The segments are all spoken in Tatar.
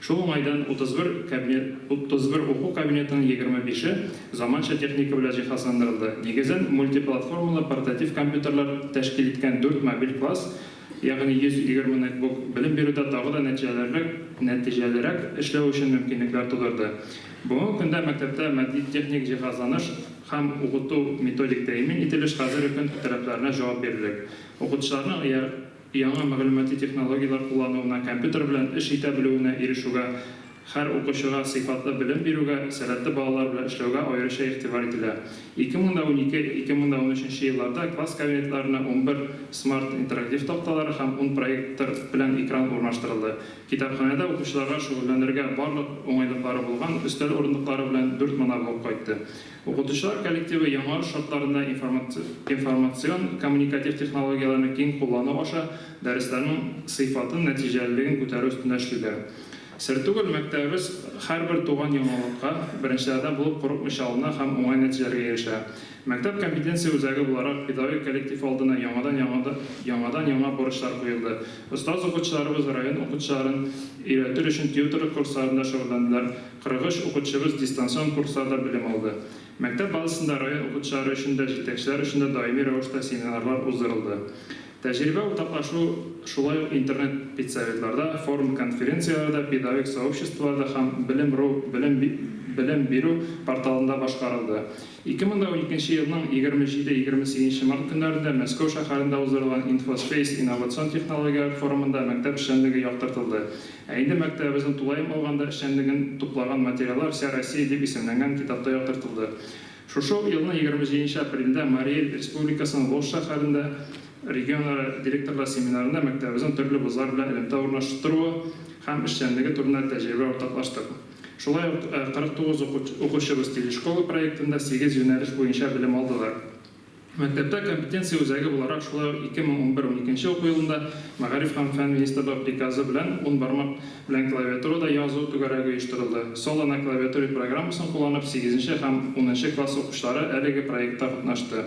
Шул уңайдан 31 кабинет, 31 уку кабинетының 25-е заманча техника белән җиһазландырылды. Нигезен мультиплатформалы портатив компьютерлар тәшкил иткән дүрт мобиль класс, ягъни 120 нетбук, белем бирүдә тагы да нәтиҗәлеррәк, нәтиҗәлерәк эшләү өчен мөмкинлекләр тудырды. Бүгенге көндә мәктәптә матди-техник җиһазланыш һәм укыту-методик тәэмин ителеш хәзерге көн таләпләренә җавап бирерлек. Укытучыларның Яңа мәгълүмати технологияләр куллануына, компьютер белән эш итә белүенә ирешүгә, һәр укучыга сыйфатлы белем бирүгә, сәләтле балалар белән эшләүгә аеруча игътибар ителә. Ике мең дә унике, ике мең дә унөченче елларда класс кабинетларына унбер смарт интерактив такталары һәм ун проектор белән экран урнаштырылды. Китапханәдә укучыларга шөгыльләнергә барлык уңайлыклары булган өстәл урындыклары белән дүрт монабулк кайтты. Укытучылар коллективы яңарыш шартларында информацион-коммуникатив технологияләрне киң куллану аша дәресләрнең сыйфатын, нәтиҗәлелеген күтәрү өстендә эшлиләр. Сер түгел, мәктәбебез һәрбер туган яңалыкка беренчеләрдән булып курыкмыйча алына һәм уңай нәтиҗәләргә ирешә. Мәктәп компетенция үзәге буларак, педагогик коллектив алдына яңадан-яңа бурычлар куелды. Остаз укытучыларыбыз район укытучыларын өйрәтер өчен тьютерлык курсларында шөгыльләнделәр, 43 укытучыбыз дистанцион курсларда белем алды. Мәктәп базасында район укытучылары өчен дә, җитәкчеләр өчен дә даими рәвештә семинарлар уздырылды. Тәҗрибә уртаклашу шулай ук интернет-педсоветларда, форум-конференцияләрдә, педагогик сообществоларда һәм Белем.ру белем белем бирү порталында башкарылды. Ике мең дә уникенче елның егерме җиде, егерме сигезенче март көннәрендә Мәскәү шәһәрендә уздырылган InfoSpace инновацион технологияләр форумында мәктәп эшчәнлеге яктыртылды. Ә инде мәктәбебезнең тулаем алганда эшчәнлеген туплаган материаллар Вся Россия дип исемләнгән китапта яктыртылды. Шушы ук елның егерме җиденче апрелендә Марий Эл Республикасының Волжск шәһәрендә регионара директорлар семинарында мәктәбебезнең төрле вузлар белән элемтә урнаштыруы һәм эшчәнлеге турында тәҗрибә уртаклаштык. Шулай ук 49 укучыбыз Телешкола проектында сигез юнәлеш буенча белем алдылар. Мәктәптә компетенция үзәге буларак шулай ук 2011-12 уку елында Мәгариф һәм фән министрбы приказы белән ун бармак белән клавиатурада язу түгәрәге оештырылды. Solo на клавиатуре программасын кулланып сигезенче һәм унынчы класс укучылары әлеге проектта катнашты.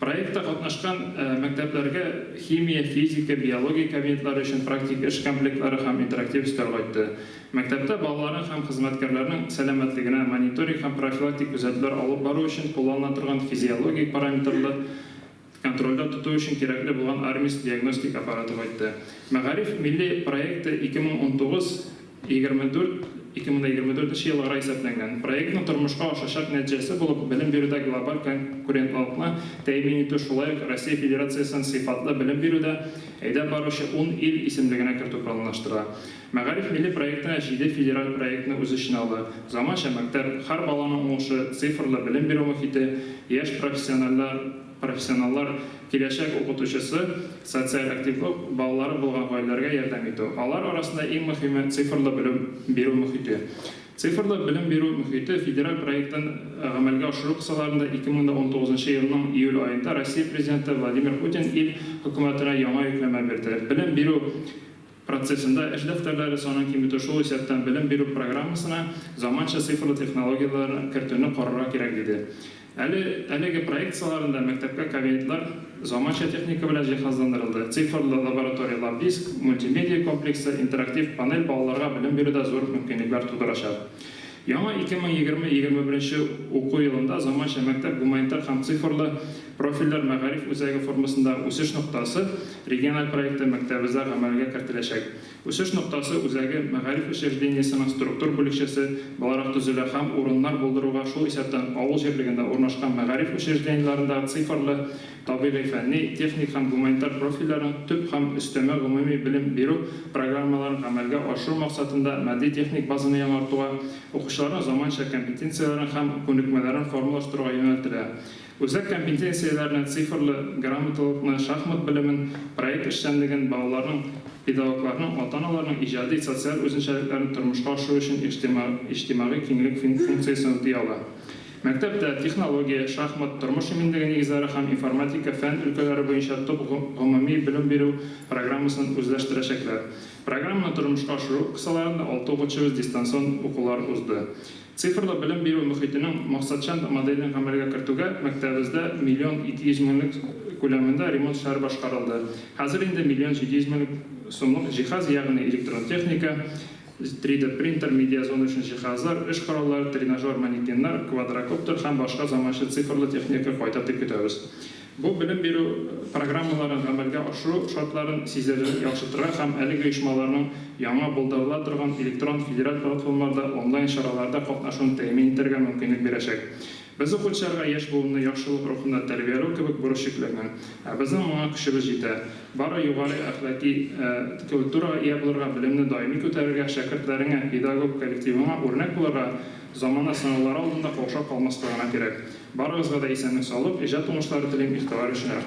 Проектта катнашкан мәктәпләргә химия, физика, биология кабинетлары өчен практик эш комплектлары һәм интерактив өстәл кайтты. Мәктәптә балаларның һәм хезмәткәрләрнең сәламәтлегенә мониторинг һәм профилактик күзәтүләр алып бару өчен кулланыла торган физиологик параметрлы контрольдә тоту өчен кирәкле булган Армис диагностик аппараты кайтты. Мәгариф милли проекты 2019 24, 2024 нче елларга исәпләнгән. Проектның тормышка ашачак нәтҗәсе булып белем бирүдә глобаль конкурентлылыкны тәэмин итү шулай ук Россия Федерациясен сыйфатлы белем бирүдә әйдәп баручы ун ил исемлегенә кертү планлаштырыла. Мәгариф милли проектына җиде федераль проектны үз эченә ала, заманча мәктәп, хәр баланың уңышы, цифрлы белем бирү мохите, яшь профессиональләр, Профессионаллар, киләчәк укытучысы, социаль активлык, балалары булган гаиләләргә ярдәм итү. Алар арасында иң мөһиме, цифрлы белем бирү мохите. Цифрлы белем бирү мохите федераль проектын гамәлгә ашыру кысаларында 2019 нчы елның июль аенда Россия Президенты Владимир Путин ил Хөкүмәтенә яңа йөкләмә бирде, белем бирү процессында эш дәфтәрләре санын киметү, шул исәптән белем бирү программасына заманча цифрлы технологияләр кертүне карарга кирәк, диде. Әле әлеге проект кысаларында мәктәпкә кабинетлар заманча техника белән җиһазландырылды, цифрлы лабораторияләр, диск, мультимедия комплексы, интерактив панель балаларга белем бирүдә зур мөмкинлекләр тудырачак. Яңа 2020-2021 беренче уку елында Заманча мәктәп гуманитар һәм цифрлы профильләр мәгариф үзәге формасында Үсеш ноктасы региональ проекты мәктәбебездә гамәлгә кертеләчәк. Үсеш ноктасы үзәге мәгариф учреждениесенең структур бүлекчәсе буларак төзелә һәм урыннар булдыруга, шул исәптән авыл җирлегендә урнашкан мәгариф учреждениеләрендә цифрлы Табигый, фәнни, техник һәм гуманитар профильләрнең төп һәм өстәмә гомуми белем бирү программаларын гамәлгә ашыру максатында матди-техник базаны яңартуга, укучыларның заманча компетенцияләрен һәм күнекмәләрен формалаштыруга юнәлтелә. Үзәк компетенцияләрне, цифрлы грамоталылыкны, шахмат белемен, проект эшчәнлеген, балаларның, педагогларның, ата-аналарның иҗади, социаль үзенчәлекләрен тормышка ашыру өчен иҗтимагый киңлек функциясен үти ала. Мәктәптә технология, шахмат, тормыш иминлеге нигезләре һәм информатика фән өлкәләре буенча төп гомуми белем бирү программасын үзләштерәчәкләр. Программаны тормышка ашыру кысаларында алты укытучыбыз дистанцион укулар узды. Цифрлы белем бирү мохитенең максатчан моделен гамәлгә кертүгә мәктәбебездә миллион ике йөз меңлек күләмендә ремонт эшләре башкарылды, хәзер инде миллион җиде йөз мең сумлык җиһаз, ягъни электрон техника, 3D принтер, медиазона өчен җиһазлар, эш кораллары, тренажер манекеннар, квадрокоптер һәм башка заманча цифрлы техника кайтыр дип көтәбез. Бу белем бирү программаларын гамәлгә ашыру шартларын сизелерлек яхшыртырга һәм әлеге оешмаларның яңа булдырыла торган электрон федераль платформаларда, онлайн чараларда катнашуын тәэмин итәргә мөмкинлек бирәчәк. Без укучыларга яшь буынны яхшылык рухында тәрбияләү кебек бурыч йөкләнгән. Ә безнең моңа көчебез җитә. Бары югары әхлаки культурага ия булырга, белемне даими күтәрергә, шәкертләреңә, педагог коллективыңа үрнәк булырга, замана сынаулары алдында каушап калмаска гына кирәк. Барыгызга да исәнлек-саулык, иҗат уңышлары телим, игътибар өчен рәхмәт.